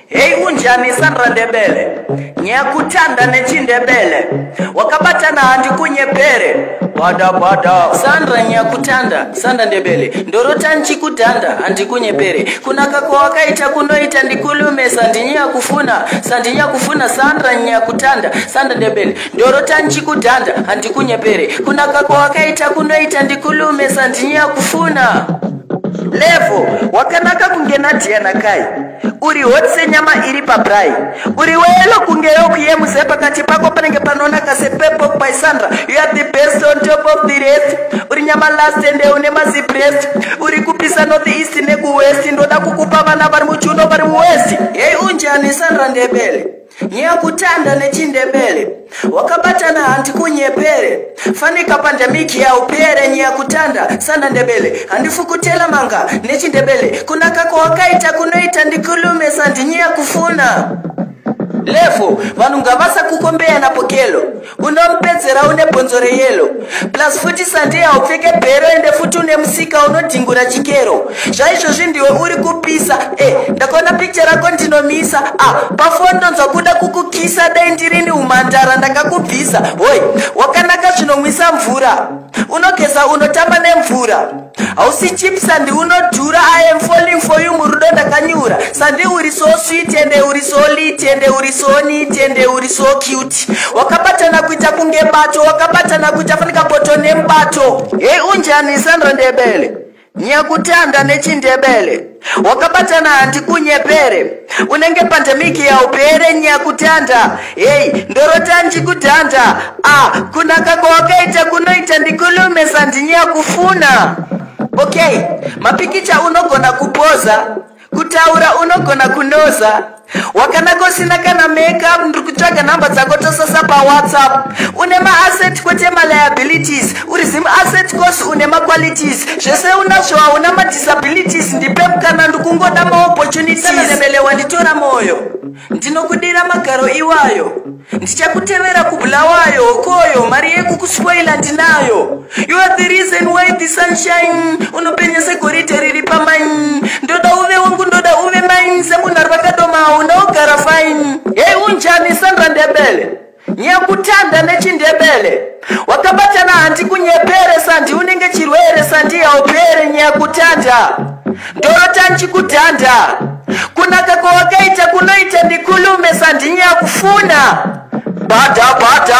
hei unjanisa ndandebele nyakutanda nechindebele wakabatana handi kunyepere bada bada sandra nyakutanda sanda ndebele ndorota nchikudhanda handi kunyepere kunaka kwawakaita kunoita ndikulumesa ndinyakufuna sandinyakufuna sandra nyakutanda sanda ndebele ndorota ndichikudhanda handikunyepere kunaka kwawakaita kunoita ndikulume sandinyaya kufuna levo wakanaka kunge nadhiya nakai uri hoti senyama iri pabrai uri weyelo kunge yokuyemuze pakati pako panenge panonaka sepepo by sandra you are the best on top of the rest uri nyama last ende une mazibrest uri kupisa north east nekuwest ndoda kukupa vana vari muchuno vari muwest hei unjani sandra ndebele Nyeya kutanda nechindebele wakabatana hanti kunyepere fanika pandemiki yaupere nyeya kutanda sana ndebele handifukutela manga nechindebele kunaka kwawakaita kunoita ndikulume sandinyeya kufuna levo vanhu ngavasakukombeya napokelo unompedzera une bhonzo reyelo plus futi sande haupfeke bhero ende futi une musika unodhingura chikero zvaizvozvi ndiwe uri kupisa e eh, ndakaona picha rako ndinomisa a ah, pafoni ndonzwa kuda kukukisa dai ndirini umhandara ndakakubvisa hoi wakanaka zvinomwisa mvura unogeza unotamba nemvura hausi chip sandi unodhura i am falling for you murudo ndakanyura sandi uri so sweet ende uri so lit ende uri so neat ende uri so cute wakabatana kuita kunge bato wakabatana kuita fanika boto nemubato hei unjani sandra ndebele nyakutanda nechindebele wakabatana handi kunyepere unenge pandemic yaupere nyakutanda hei ndorota ndikutanda a kunaka kwawakaita kunoita ndikulume sandinyakufuna okay mapikicha unogona kupoza kutaura unogona kunoza wakanaka usina kana makeup ndiri kutsvaga nhamba dzako tosasa pawhatsapp une maasset kwete maliabilities uri zim asset cos une maqualities zvese unazvo hauna madisabilities ndipe mukana ndikungoda maopportunities ndinokudiira magaro iwayo ndichakutevera kubulawayo hokoyo mari yekukuspoila ndinayo you are the reason why the sunshine unopenya segoridhe riri pamain ndoda uve wangu ndoda uve main semunhu ari vakadomawo ndaogara fine hei unjani sandra ndebele nyakutanda nechindebele wakabatana handi kunyepere sandi unenge chirwere sandi yaupere nyaya kutanda ndorota ndichikudhanda kunaka kwawakaita kunoita ndikulume sandi nyaya kufuna bada bada